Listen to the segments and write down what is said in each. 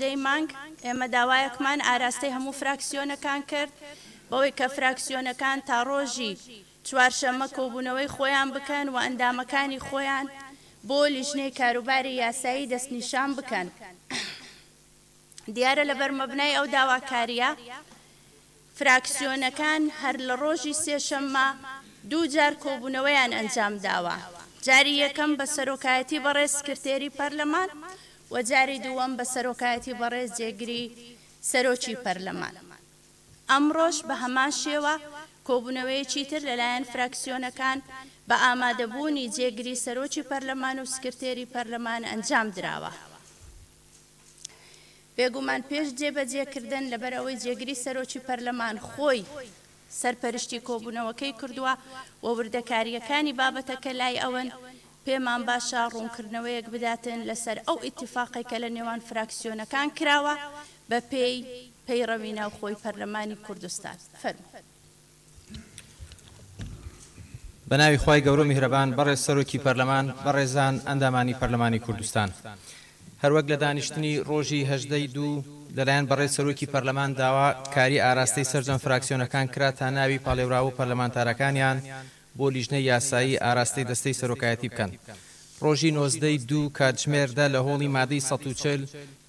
دەی مانگ، ئێمە داوایەکمان ئاراستەی هەموو فراکسیۆنەکان کرد، بەوەی کە فراکسیۆنەکان تا ڕۆژی چوارشەممە کۆبوونەوەی خۆیان بکەن و ئەندامەکانی خۆیان بۆ لیژنەی کاروباری یاسایی دەستنیشان بکەن. دیارە لەبەر مەبنای ئەو داواکارییە، فراکسیۆنەکان هەر لە ڕۆژی سێشەممە دوو جار کۆبوونەوەیان ئەنجامداوە، جاری یەکەم بە سەرۆکایەتی بەڕێز سکرتێری پەرلەمان و جاری دووەم بە سەرۆکایەتی بەڕێز جێگری سەرۆکی پەرلەمان. ئەمڕۆش بە هەمان شێوە کۆبوونەوەیەکی تر لەلایەن فراکسیۆنەکان بە ئامادەبوونی جێگری سەرۆکی پەرلەمان و سکرتێری پەرلەمان ئەنجامدراوە. بێگومان پێش جێبەجێکردن، لەبەر ئەوەی جێگری سەرۆکی پەرلەمان خۆی سەرپەرشتی کۆبوونەوەکەی کردووە و وردەکارییەکانی بابەتەکە لای ئەون، پێمان باشە ڕوونکردنەوەیەک بداتن لەسەر ئەو ئیتیفاقەی کە لە نێوان فراکسیۆنەکان کراوە بەپێی پەیڕەوی ناوخۆی پەرلەمانی کوردستان. فەرموو. بەناوی خوای گەورەو میهرەبان بەڕێز سەرۆکی پەرلەمان، بەڕێزان ئەندامانی پەرلەمانی کوردستان. هەروەک لە دانیشتنی ڕۆژی هەژدە ی دوو لەلایەن بەڕێز سەرۆکی پەرلەمان داوا کاری ئاراستەی سەرجەم فراکسیۆنەکان کرا تا ناوی پاڵێوراوو پەرلەمانتارەکانیان بۆ لیژنەی یاسایی ئاراستەی دەستەی سەرۆکایەتی بکەن. ڕۆژی نۆزدە ی دوو کاتژمێر دە لە هۆڵی مادەی سەد و چل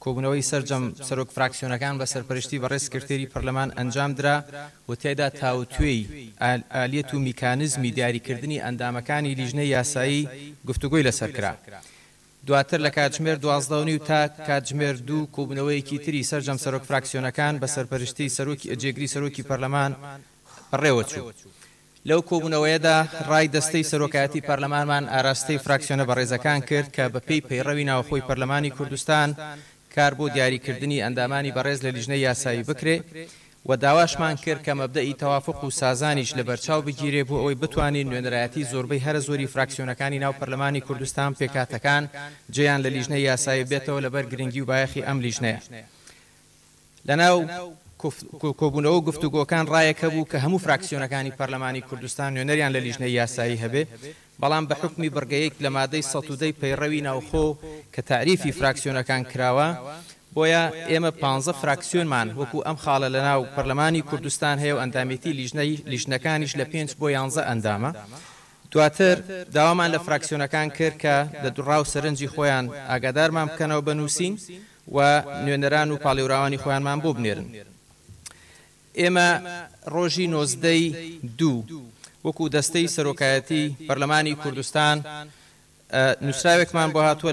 کۆبوونەوەی سەرجەم سەرۆک فراکسیۆنەکان بە سەرپەرشتی بەڕێز سکرتێری پەرلەمان ئەنجام درا و تیایدا تاوتوێی ئالیەت و میکانزمی دیاریکردنی ئەندامەکانی لیژنەی یاسایی گفتوگۆی لەسەر کرا. دواتر لە کاتژمێر دوازدە و نیو تا کاتژمێر دوو کۆبوونەوەیەکی تری سەرجەم سەرۆک فراکسیۆنەکان بە سەرپەرشتی سەرۆکی جێگری سەرۆکی پەرلەمان بەڕێوەچوو. لەو کۆبوونەوەیەدا ڕای دەستەی سەرۆکایەتی پەرلەمانمان ئاراستەی فراکسیۆنە بەڕێزەکان کرد کە بەپێی پەیڕەوی ناوخۆی پەرلەمانی کوردستان کار بۆ دیاریکردنی ئەندامانی بەڕێز لە لیژنەی یاسایی بکرێ و داواشمان کرد کە مەبدەئی تەوافق و سازانیش لەبەرچاو بگیرێ بۆ ئەوەی بتوانین نوێنەرایەتی زۆربەی هەرە زۆری فراکسیۆنەکانی ناو پەرلەمانی کوردستان پێکهاتەکان جێیان لە لیژنەی یاسایی بێتەوە لەبەر گرنگی و بایەخی ئەم لیژنەیە لەناو کۆبوونەوە و گفتوگۆکان ڕایەک هەبوو کە هەموو فراکسیۆنەکانی پەرلەمانی کوردستان نوێنەریان لە لیژنەی یاسایی هەبێ، بەڵام بە حوکمی بڕگەیەک لە مادەی سەد و دە ی پەیڕەوی ناوخۆ کە تاریفی فراکسیۆنەکان کراوە، بۆیە ئێمە پانزە فراکسیۆنمان وەکوو ئەم خاڵە لەناو پەرلەمانی کوردستان هەیە و ئەندامێتی لیژنەی لیژنەکانیش لە پێنج بۆ یانزە ئەندامە. دواتر داوامان لە فراکسیۆنەکان کرد کە لە دڕا و سەرنجی خۆیان ئاگادارمان بکەنەوە بە نووسین و نوێنەران و پاڵێوراوانی خۆیانمان بۆ بنێرن. ئێمە ڕۆژی نۆزدە ی دوو وەکو دەستەی سەرۆکایەتی پەرلەمانی کوردستان نوسراوێکمان بۆ هاتووە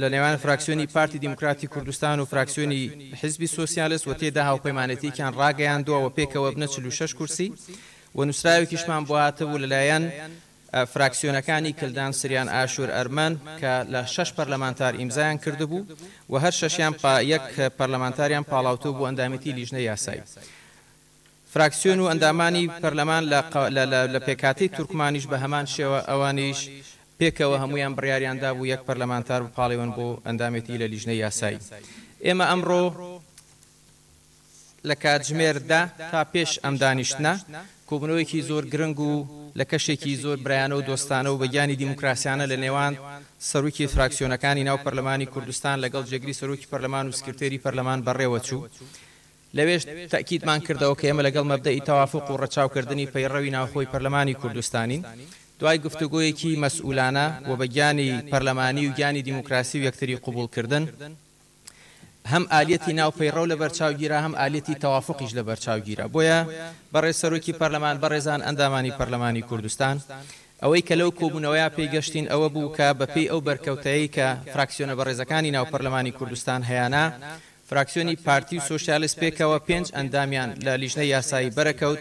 لە نێوان فراکسیۆنی پارتی دیموکراتی کوردستان و فراکسیۆنی حیزبی سۆسیالست و تێدا هاوپەیمانێتیەکیان ڕاگەیاندووە وە پێکەوە ئەبنە چل و شەش کورسی و نوسراوێکیشمان بۆ هاتبوو لەلایەن فراکسیۆنەکانی کلدان سریان ئاشور ئەرمەن کە لە شەش پەرلەمانتار ئیمزایان کردبوو و هەر شەشیان پا یەک پەرلەمانتاریان پاڵاوتوو بۆ ئەندامێتی لیژنەی یاسایی فراکسیۆن و ئەندامانی پەرلەمان لە لە پێکهاتەی تورکمانیش بە هەمان شێوە ئەوانیش پێکەوە هەموویان بڕیاریان دابوو یەک پەرلەمانتار بپاڵێون بۆ ئەندامێتی لە لیژنەی یاسایی ئێمە ئەمڕۆ لە کاتژمێر دە تا پێش ئەم دانیشتنە، کۆبوونەوەیەکی زۆر گرنگ و لە کەشێکی زۆر برایانە و دۆستانە و بە گیانی دیموکراسیانە لە نێوان سەرۆکی فراکسیۆنەکانی ناو پەرلەمانی کوردستان لەگەڵ جێگری سەرۆکی پەرلەمان و سکرتێری پەرلەمان بەڕێوە چوو. لەوێش تەئکیدمان کردەوە کە ئێمە لەگەڵ مەبدەئی تەوافوق و ڕەچاو کردنی پەیڕەوی ناوخۆی پەرلەمانی کوردستانین. دوای گفتوگۆیەکی مەسئولانە و بە گیانی پەرلەمانی و گیانی دیموکراسی و یەکتری قبوڵ کردن، هەم ئالیەتی ناو پەیڕەو لە بەرچاو گیرا هەم ئالیەتی تەوافوقیش لە بەرچاو گیرا بۆیە بەڕێز سەرۆکی پەرلەمان بەڕێزان ئەندامانی پەرلەمانی کوردستان ئەوەی کە لەو کۆبونەوەیە پێی گەشتین ئەوە بوو کە بە پێی ئەو بەرکەوتەیەی کە فراکسیۆنە بەڕێزەکانی ناو پەرلەمانی کوردستان هەیانە فراکسیۆنی پارتی و سۆسیالست پێکەوە پێنج ئەندامیان لە لیژنەی یاسایی بەرەکەوت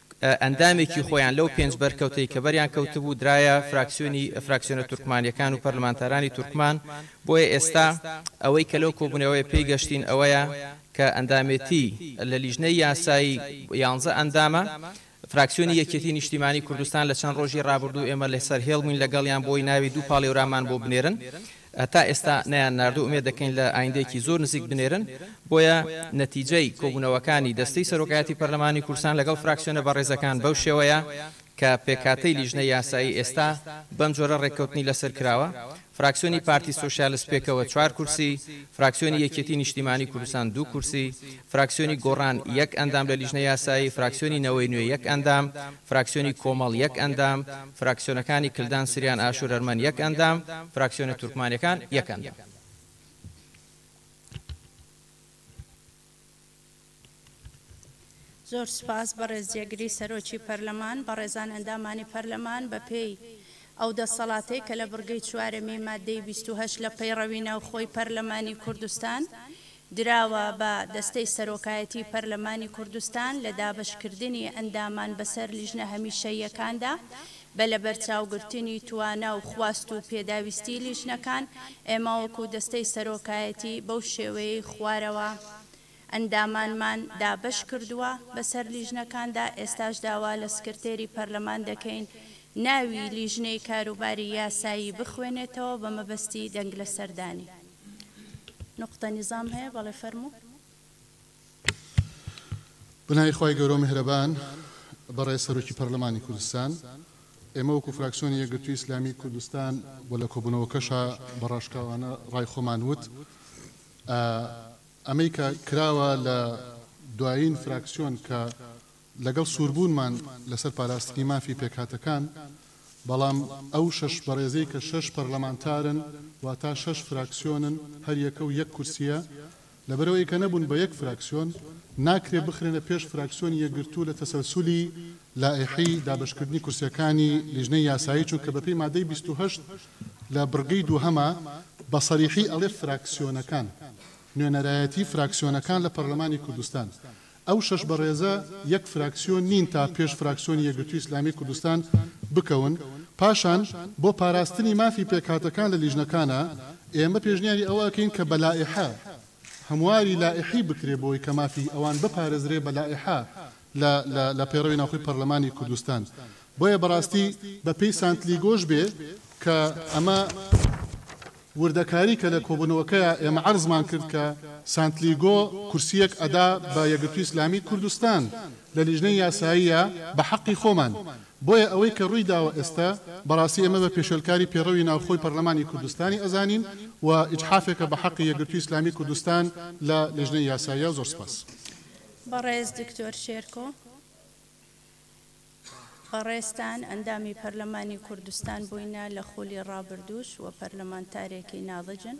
ئەندامێکی خۆیان لەو پێنج بەرکەوتەی کە بەریان کەوتبوو درایە فراکسیۆنی فراکسیۆنە تورکمانیەکان و پەرلەمانتارانی تورکمان بۆیە ئێستا ئەوەی کە لەو کۆبونەوەیە پێی گەشتین ئەوەیە کە ئەندامێتی لە لیژنەی یاسایی یانزە ئەندامە فراکسیۆنی یەکێتی نیشتیمانی کوردستان لە چەند ڕۆژی ڕابردوو ئێمە لەسەر هێڵ بووین لەگەڵیان بۆی ناوی دوو پاڵێورامان بۆ بنێرن هەتا ئێستا نەیان ناردو ئومێد دەکەین لە ئایندەیەکی زۆر نزیک بنێرن، بۆیە نەتیجەی کۆبونەوەکانی دەستەی سەرۆکایەتی پەرلەمانی کوردستان لەگەڵ فراکسیۆنە بەڕێزەکان بەو شێوەیە کە پێکهاتەی لیژنەی یاسایی ئێستا بەم جۆرە رێککەوتنی لەسەر کراوە، فراکسیۆنی پارتی سۆسیالست پێکەوە چوار کورسی، فراکسیۆنی یەکێتی نیشتیمانی کوردستان دوو کورسی، فراکسیۆنی گۆڕان یەک ئەندام لە لیژنە یاسایی، فراکسیۆنی نەوەی نوێ یەک ئەندام، فراکسیۆنی کۆمەڵ یەک ئەندام، فراکسیۆنەکانی کلدان سریان ئاشورەرمەن یەک ئەندام، فراکسیۆنە تورکمانەکان یەک ئەندام. زۆر سوپاس بەڕێز جێگری سەرۆکی پەرلەمان. بەڕێزان ئەندامانی پەرلەمان بەپێی ئەو دەسەڵاتەی کە لە بڕگەی چوارەمی ماددەی بیست و هەشت لە پەیڕەوی ناوخۆی پەرلەمانی کوردستان دراوە بە دەستەی سەرۆکایەتی پەرلەمانی کوردستان لە دابەشکردنی ئەندامان بەسەر لیژنە هەمیشەییەکاندا بە لەبەرچاوگرتنی توانا و خواست و پێداویستی لیژنەکان ئێمە وەکو دەستەی سەرۆکایەتی بەو شێوەیەی خوارەوە ئەندامانمان دابەش کردووە بەسەر لیژنەکاندا ئێستاش داوا لە سکرتێری پەرلەمان دەکەین ناوی لیژنەی کاروباری یاسایی بخوێنێتەوە بە مەبەستی دەنگلەسەردانی. نوقتە نیزام هەیە بەڵێ فەرموو. بەناوی خوای گەورەو میهرەبان بەڕێز سەرۆکی پەرلەمانی کوردستان ئێمە وەکو فراکسیۆنی یەکگرتووی ئیسلامی کوردستان و لە کۆبوونەوەکەشا بە ڕاشکاوانە ڕای خۆمان وت ئەمەی کە کراوە لە دوایین فراکسیۆن کە لەگەڵ سووربوونمان لەسەر پاراستنی مافی پێکهاتەکان، بەڵام ئەو شەش بەڕێزەی کە شەش پەرلەمانتارن، واتە شەش فراکسیۆنن، هەریەکە و یەک کورسییە، لەبەرئەوەی کە نەبوون بە یەک فراکسیۆن، ناکرێت بخرێنە پێش فراکسیۆنی یەکگرتوو لە تەسەلسولی لائیحی دابەشکردنی کورسییەکانی لیژنەی یاسایی، چونکە بەپێی مادەی بیست و هەشت لە بڕگەی دووهەما بە سەریحی ئەڵێ فراکسیۆنەکان، نوێنەرایەتی فراکسیۆنەکان لە پەرلەمانی کوردستان، ئەو شەش بەڕێزە یەک فراکسیۆن نین تا پێش فراکسیۆنی یەکگرتووی ئیسلامیی کوردستان بکەون، پاشان بۆ پاراستنی مافی پێکهاتەکان لە لیژنەکانا، ئێمە پێشنیاری ئەوە ئەکەین کە بە لائیحە، هەمواری لائیحی بکرێ بۆی کە مافی ئەوان بپارێزرێ بە لائیحە لە لە لە پەیڕەوی ناوخۆی پەرلەمانی کوردستان. بۆیە بەڕاستی بە پێی سانتلیگۆش بێ کە ئەمە. وردەکاری کە لە کۆبونەوەکەیا ئێمە عەرزمان کرد کە سانتلیگۆ کورسیەک ئەدا بە یەکگرتوی ئیسلامی کوردستان لە لیژنەی یاساییا بە حەقی خۆمان بۆیە ئەوەی کە ڕوی داوە ئێستە بەڕاستی ئێمە بە پێشێلکاری پێڕەوی ناوخۆی پەرلەمانی کوردستانی ئەزانین و ئیجحافێکە بە حەقی یەکگرتوی ئیسلامی کوردستان لە لیژنەی یاساییا زۆر سپاس. بەڕێز دکتۆر شێرکۆ. بەڕێزتان ئەندامی پەرلەمانی کوردستان بووینە لە خولی ڕابردووش و پەرلەمانتارێکی ناضجن،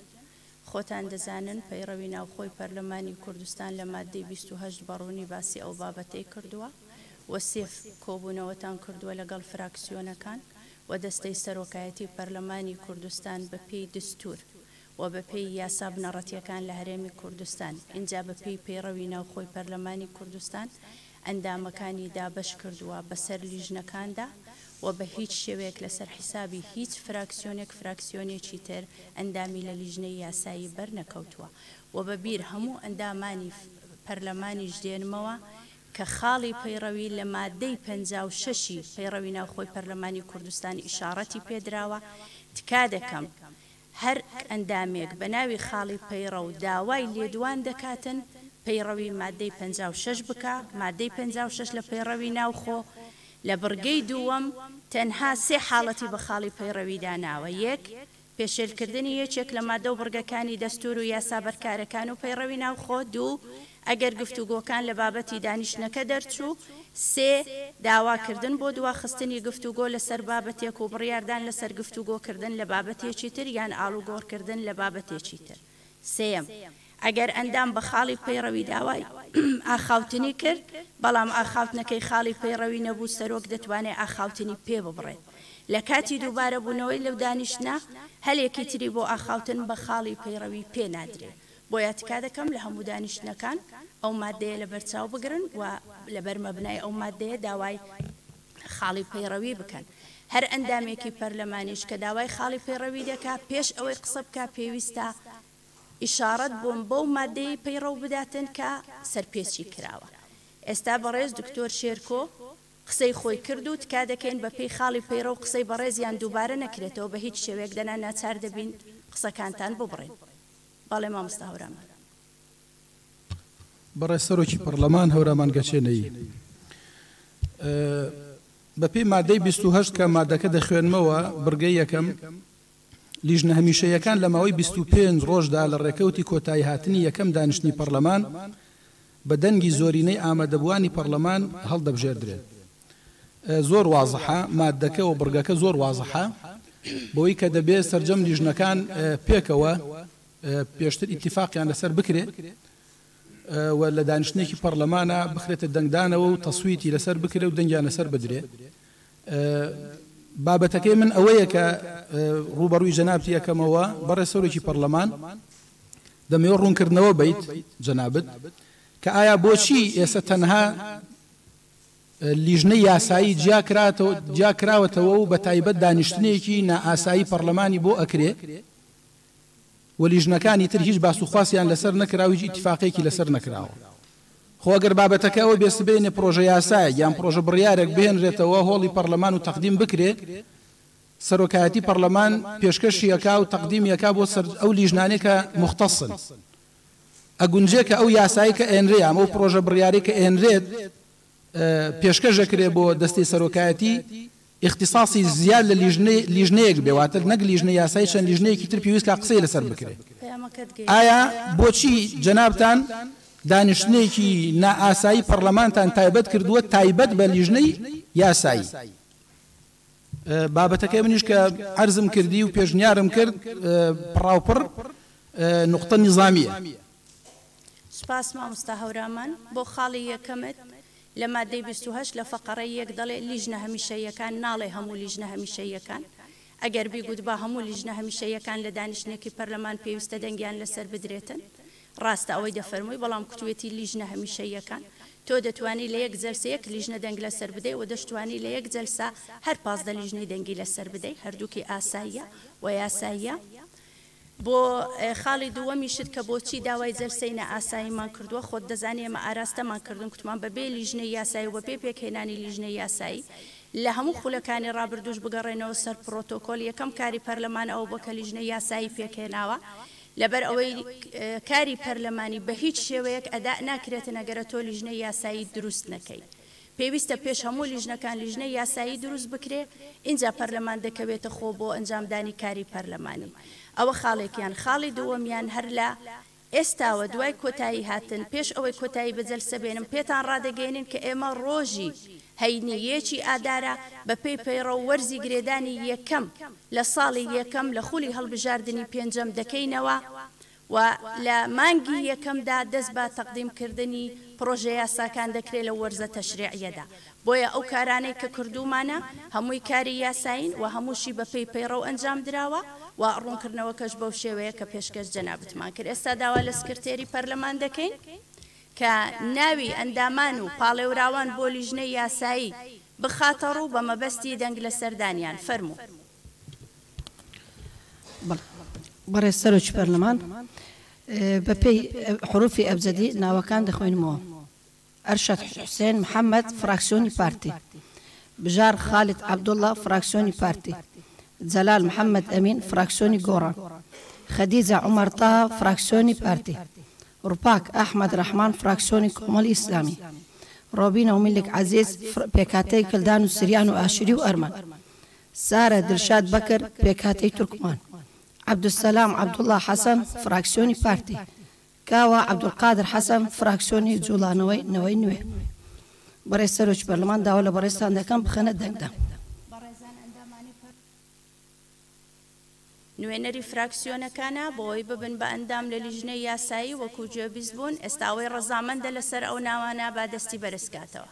خۆتان دەزانن پەیڕەوی ناوخۆی پەرلەمانی کوردستان لە ماددەی بیست و هەشت بە ڕوونی باسی ئەو بابەتەی کردووە و سێ کۆبوونەوەتان کردووە لەگەڵ فراکسیۆنەکان و دەستەی سەرۆکایەتی پەرلەمانی کوردستان بەپێی دەستوور و بە پێی یاسا بنەڕەتییەکان لە هەرێمی کوردستان، ئینجا بە پێی پەیڕەوی ناوخۆی پەرلەمانی کوردستان ئەندامەکانی دابەش کردووە بە سەر لیژنەکاندا و بە هیچ شێوەیەک لە سەر حیسابی هیچ فراکسیۆنێک فراکسیۆنێکی تر ئەندامی لە لیژنەی یاسایی بەر نەکەوتووە و بە بیر هەموو ئەندامانی پەرلەمانیش دێنمەوە کە خاڵی پەیڕەوی لە ماددەی پەنجا و شەش ی پەیڕەوی ناوخۆی پەرلەمانی کوردستان ئیشاڕەتی پێ دراوە تکا دەکەم هەر ئەندامێک بە ناوی خاڵی پەیڕەو داوای لێدوان دەکاتن پەیڕەوی ماددەی پەنجا و شەش بکا، ماددەی پەنجا و شەش لە پەیڕەوی ناوخۆ لە بڕگەی دووەم تەنها سێ حاڵەتی بە خاڵی پەیڕەوی داناوە، یەک، پێشێلکردنی یەکێک لە ماددە و بڕگەکانی دەستوور و یاسا بەرکارەکان و پەیڕەوی ناوخۆ، دوو، ئەگەر گفتوگۆکان لە بابەتی دانیشتنەکە دەرچوو، سێ. داواکردن بۆ دواخستنی گفتوگۆ لەسەر بابەتێک و بڕیاردان لەسەر گفتوگۆکردن لە بابەتێکی تر یان ئاڵوگۆڕکردن لە بابەتێکی تر سێیەم. ئەگەر ئەندام بە خاڵی پەیڕەوی داوای ئاخاوتنی کرد، بەڵام ئاخاوتنەکەی خاڵی پەیڕەوی نەبوو، سەرۆک دەتوانێت ئاخاوتنی پێ ببڕێت. لە کاتی دووبارەبوونەوەی لەو دانیشتنە، هەلێکی تری بۆ ئاخاوتن بە خاڵی پەیڕەوی پێ نادرێت. بۆیە تکا دەکەم لە هەموو دانیشتنەکان ئەو ماددەیە لەبەرچاو بگرن و لەبەر مەبنای ئەو ماددەیە داوای خاڵی پەیڕەوی بکەن. هەر ئەندامێکی پەرلەمانیش کە داوای خاڵی پەیڕەوی دەکا پێش ئەوەی قسە بکا پێویستە ئیشاڕەت بۆ بەو ماددەیەی پەیڕەو بداتن کە سەرپێچی کراوە. ئێستا بەڕێز دکتۆر شێرکۆ قسەی خۆی کرد و تکا دەکەین بە پێی خاڵی پەیڕەو قسەی بەڕێزیان دووبارە نەکرێتەوە بە هیچ شێوەیەک دەنا ناچار دەبین قسەکانتان ببڕین. بەڵێ مامۆستا هەورامان. بەڕێز سەرۆکی پەڕلەمان هەورامان گەچێنەیی، بەپێی مادەی بیست و هەشت کە مادەکە دەخوێنمەوە، بڕگەی یەکەم، لیژنە هەمیشەییەکان لە ماوەی بیست و پێنج ڕۆژدا لە ڕێکەوتی کۆتاییهاتنی یەکەم دانیشتنی پەڕلەمان بە دەنگی زۆرینەی ئامادەبووانی پەڕلەمان هەڵدەبژێردرێن. زۆر وازحە ماددەکە و بڕگەکە زۆر وازحە بەوەی کە دەبێ سەرجەم لیژنەکان پێکەوە پێشتر ئیتیفاقیان لەسەر بکرێت و لە دانیشتنێکی پەرلەمانە بخرێتە دەنگدانەوە و تەسویتی لەسەر بکرێت و دەنگیان لەسەر بدرێ بابەتەکەی من ئەوەیە کە ڕوبەڕووی جەنابتی یەکەمەوە بەڕێ سەرۆکی پەرلەمان دەمەوە ڕوونکردنەوە بیت جەنابت کە ئایا بۆچی ئێستا تەنها لیژنەی یاسایی جیا کراوەتەوە و بەتایبەت دانیشتنێکی نائاسایی پەڕلەمانی بۆ ئەکرێ و لیژنەکانی تر هیچ باس و خواسیان لەسەر نەکرا و هیچ ئیتیفاقێکی لەسەر نەکراوە. خۆ ئەگەر بابەتەکە ئەوە بێ سبەینێ پڕۆژە یاسایەک یان پڕۆژە بڕیارێک بهێنرێتەوە هۆڵی پەڕلەمان و تەقدیم بکرێ، سەرۆکایەتی پەڕلەمان پێشکەشی ئەکا و تەقدیمی ئەکا بۆ سەر ئەو لیژنانەی کە موختەسن. ئەگونجێ کە ئەو یاسایەی کە ئەیەنرێ یام ئەو پرۆژە بڕیارەی کە ئەیەنرێت پێشکەش ئەکرێ بۆ دەستەی سەرۆکایەتی ئیختیساسی زیاد لە لیژنەی لیژنەیەک بێ واتە نەک لیژنەی یاسایی چەند لیژنەیەکی تر پێویست کە قسەی لەسەر بکرێ ئایا بۆچی جەنابتان دانیشتنێکی نائاسایی پەرلەمانتان تایبەت کردووە تایبەت بە لیژنەی یاسایی بابەتەکەی منیش کە عەرزم کردی و پێشنیارم کرد پڕاوپڕ نوقتە نیزامیە. سپاس مامۆستا هەورامان بۆ خاڵی یەکەمت لە مادەی بیست و هەشت لە فەقەڕەی یەک دەڵێ لیژنە هەمیشەییەکان ناڵێ هەموو لیژنە هەمیشەییەکان ئەگەر بیگوتبا هەموو لیژنە هەمیشەییەکان لە دانیشتنێکی پەرلەمان پێویستە دەنگیان لەسەر بدرێتن ڕاستە ئەوەی دەفەرمووی بەڵام کوتوێتی لیژنە هەمیشەییەکان تۆ دەتوانی لە یەک جەلسە یەک لیژنە دەنگ لەسەر بدەی وە دەشتوانی لە یەک جەلسە هەر پازدە لیژنەی دەنگی لەسەر بدەی هەردووکی ئاساییە وە یاساییە بۆ خاڵی دووەمیشت کە بۆچی داوای جەلسەی نا ئاساییمان کردووە خۆت دەزانی ئێمە ئاراستەمان کردن کوتمان بە بێ لیژنەی یاسایی و بە بێ پێکهێنانی لیژنەی یاسایی لە هەموو خولەکانی ڕابردووش بگەڕێنەوە سەر پڕۆتۆکۆل یەکەم کاری پەرلەمان ئەوە بووە کە لیژنەی یاسایی پێکهێناوە لەبەر ئەوەی کاری پەرلەمانی بە هیچ شێوەیەک ئەدا ناکرێتن ئەگەرە تۆ لیژنەی یاسایی دروست نەکەی پێویستە پێش هەموو لیژنەکان لیژنەی یاسایی دروست بکرێ ئینجا پەرلەمان دەکەوێتە خۆ بۆ ئەنجامدانی کاری پەرلەمانی ئەوە خاڵێکیان خاڵی دووەمیان هەر لە ئێستاوە دوای کۆتایی هاتن پێش ئەوەی کۆتایی بە جەلسە بێنم پێتان ڕادەگەیەنین کە ئێمە ڕۆژی هەینی یەکی ئادارە بەپێی پەیڕەو وەرزی گرێدانی یەکەم لە ساڵی یەکەم لە خولی هەڵبژاردنی پێنجەم دەکەینەوە و لە مانگی یەکەمدا دەست بە تەقدیم کردنی پڕۆژە یاساکان دەکرێت لەو وەرزە تەشریعیەدا بۆیە ئەو کارانەی کە کردوومانە هەمووی کاری یاسایین و هەمووشی بەپێی پەیڕەو ئەنجام دراوە و ڕوونکردنەوەکەش بەو شێوەیە کە پێشکەش جەنابتمان کرد ئێستا داوا لە سکرتێری پەرلەمان دەکەین کە ناوی ئەندامان و پاڵێوراوان بۆ لیژنەی یاسایی بخاتەڕوو بە مەبەستی دەنگ لەسەردانیان. فەرموو. بەڕێز سەرۆکی پەرلەمان، بە پێی حروفی ئەبجەدی ناوەکان دەخوێنمەوە، ئەرشەد حوسێن محەمەد، فراکسیۆنی پارتی، بژار خالید عەبدوڵڵا، فراکسیۆنی پارتی، جەلال محەمەد ئەمین، فراکسیۆنی گۆڕان، خەدیجە عومەر تەها، فراکسیۆنی پارتی، ڕپاک، ئەحمەد ڕەحمان فراکسیۆنی کۆمەڵی ئیسلامی، ڕۆبینە و میلک عەزیز فر پێکهاتەی کلدان و سریان و ئاشوری و ئەرمەن، سارە دلشاد بەکر پێکهاتەی تورکمان، عەبدولسەلام عەبدوڵا حەسەن فراکسیۆنی پارتی، کاوە عەبدولقادر حەسەن فراکسیۆنی جوڵانەوەی نەوەی نوێ. بەڕێز سەرۆکی پەرلەمان داوا لە بەڕێزتان دەکەم بخەنە دەنگدان. نوێنەری فراکسیۆنەکانە بۆوەی ببن بە ئەندام لە لیژنەی یاسایی وەکو گوێبیست بوون ئێستا ئەوەی ڕەزامەندە لەسەر ئەو ناوانە با دەستی بەرزکاتەوە.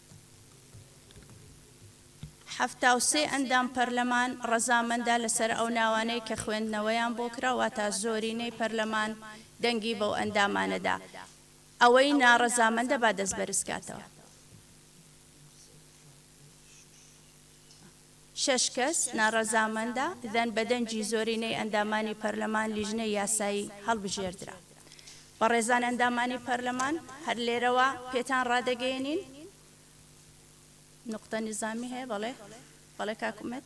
حەفتا و سێ ئەندام پەرلەمان ڕەزامەندە لەسەر ئەو ناوانەی کە خوێندنەوەیان بۆ کرا، واتا زۆرینەی پەرلەمان دەنگی بەو ئەندامانە دا. ئەوەی ناڕەزامەندە با دەست بەرزکاتەوە. شەش کەس ناڕەزامەندە دەن بە دەنگی زۆرینەی ئەندامانی پەرلەمان لیژنەی یاسایی هەڵبژێردرا. بەڕێزان ئەندامانی پەرلەمان هەر لێرەوە پێتان ڕادەگەیەنین، نوقتە نیزامی هەیە بەڵێ بەڵێ کاک ئومێد.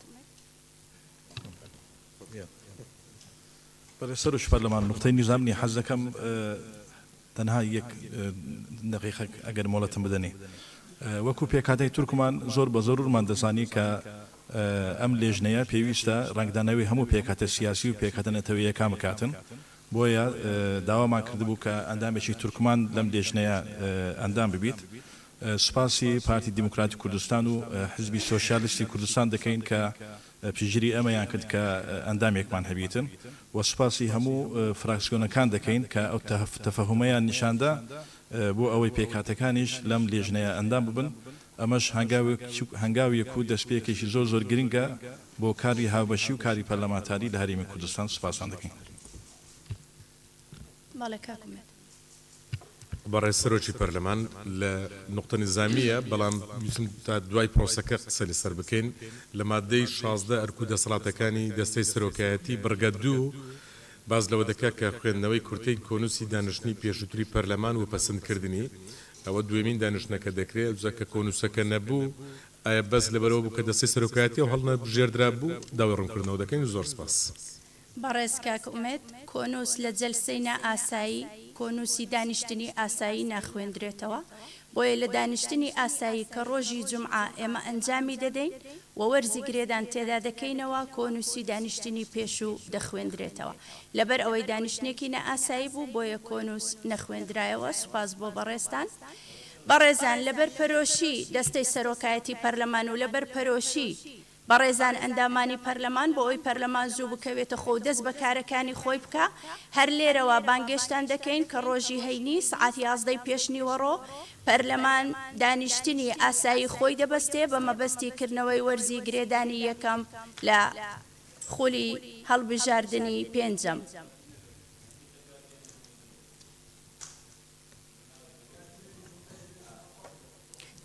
بەڵێ سەرۆکی پەرلەمان نوقتەی نیزام نیە حەز دەکەم تەنها یەک دەقیقەک ئەگەر مۆڵەتم بدەنێ. وەکو پێکهاتەی تورکمان زۆر بە زەرورمان دەزانی کە ئەم لێژنەیە پێویستە رەنگدانەوی هەموو پێکهاتە سیاسی و پێکهاتە نەتەوەییەکان بکاتن، بۆیە داوامان کردبوو کە ئەندامێکی تورکمان لەم لێژنەیە ئەندام ببیت. سوپاسی پارتی دیموکراتی کوردستان و حزبی سۆسیالستی کوردستان دەکەین کە پشتگیری ئەمەیان کرد کە ئەندامێکمان هەبیتن و سوپاسی هەموو فراکسیۆنەکان دەکەین کە ئەو تەفەهومەیان نیشاندا بۆ ئەوەی پێکهاتەکانیش لەم لێژنەیە ئەندام ببن، ئەمەش هەنگاویک و دەستپێکێکی زۆر زۆر گرنگە بۆ کاری هاوبەشی و کاری پەرلەمانتاری لە هەرێمی کوردستان، سوپاستان دەکەین. بەڵێ کاک ئومێد. بەڕێز سەرۆکی پەرلەمان لە نوقتە نیزامییە، بەڵام ویستم تا دوای پرۆسەکە قسە لەسەر بکەین. لە ماددەی شازدە ئەرک و دەسەڵاتەکانی دەستەی سەرۆکایەتی، بڕگە دوو، باس لەوە دەکات کە خوێندنەوەی کورتەی کۆنووسی دانیشتنی پێشووتری پەرلەمان و پەسندکردنی، ئەوە دوێمین دانیشتنەکە دەکرێت، ئەوجا کە کۆنووسەکە نەبوو، ئایا بەس لەبەرئەوە بوو کە دەستەی سەرۆکایەتییەوە هەڵنەبژێردرابوو؟ داوای ڕوونکردنەوە دەکەین. زۆر سپاس. بەڕێز کاک ئومێد کۆنووس لە جەلسەی نا ئاسایی کۆنووسی دانیشتنی ئاسایی ناخوێندرێتەوە بۆیە لە دانیشتنی ئاسایی کە ڕۆژی جومعە ئێمە ئەنجامی دەدەین و وەرزی گرێدان تێدا دەکەینەوە کۆنووسی دانیشتنی پێشوو دەخوێندرێتەوە لەبەر ئەوەی دانیشتنێکی نا ئاسایی بوو بۆیە کۆنووس نەخوێندرایەوە سوپاس بۆ بەڕێزتان بەڕێزان لەبەر پەرۆشی دەستەی سەرۆکایەتی پەرلەمان و لەبەر پەرۆشی بەڕێزان ئەندامانی پەرلەمان بۆ ئەوەی پەرلەمان زوو بکەوێتە خۆ و دەست بە کارەکانی خۆی بکا هەر لێرەوە بانگێشتان دەکەین کە ڕۆژی هەینی سعات یازدەی پێش نیوەڕۆ پەرلەمان دانیشتنی ئاسایی خۆی دەبەستێ بە مەبەستی کردنەوەی وەرزی گرێدانی یەکەم لە خولی هەڵبژاردنی پێنجەم.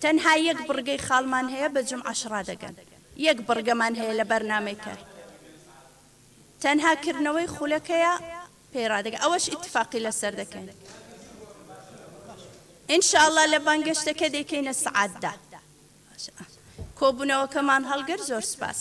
تەنها یەک بڕگەی خاڵمان هەیە بە جومعەش ڕادەگەن یەک بڕگەمان هەیە لە بەرنامەی کار تەنها کردنەوەی خولەکەیە پێی ڕادەگەن ئەوەش ئیتفاقی لەسەر دەکەین ان شاء الله لە بانگەشتەکە دەیکەینە سعات دا کۆبوونەوەکەمان هەڵگر زۆر سپاس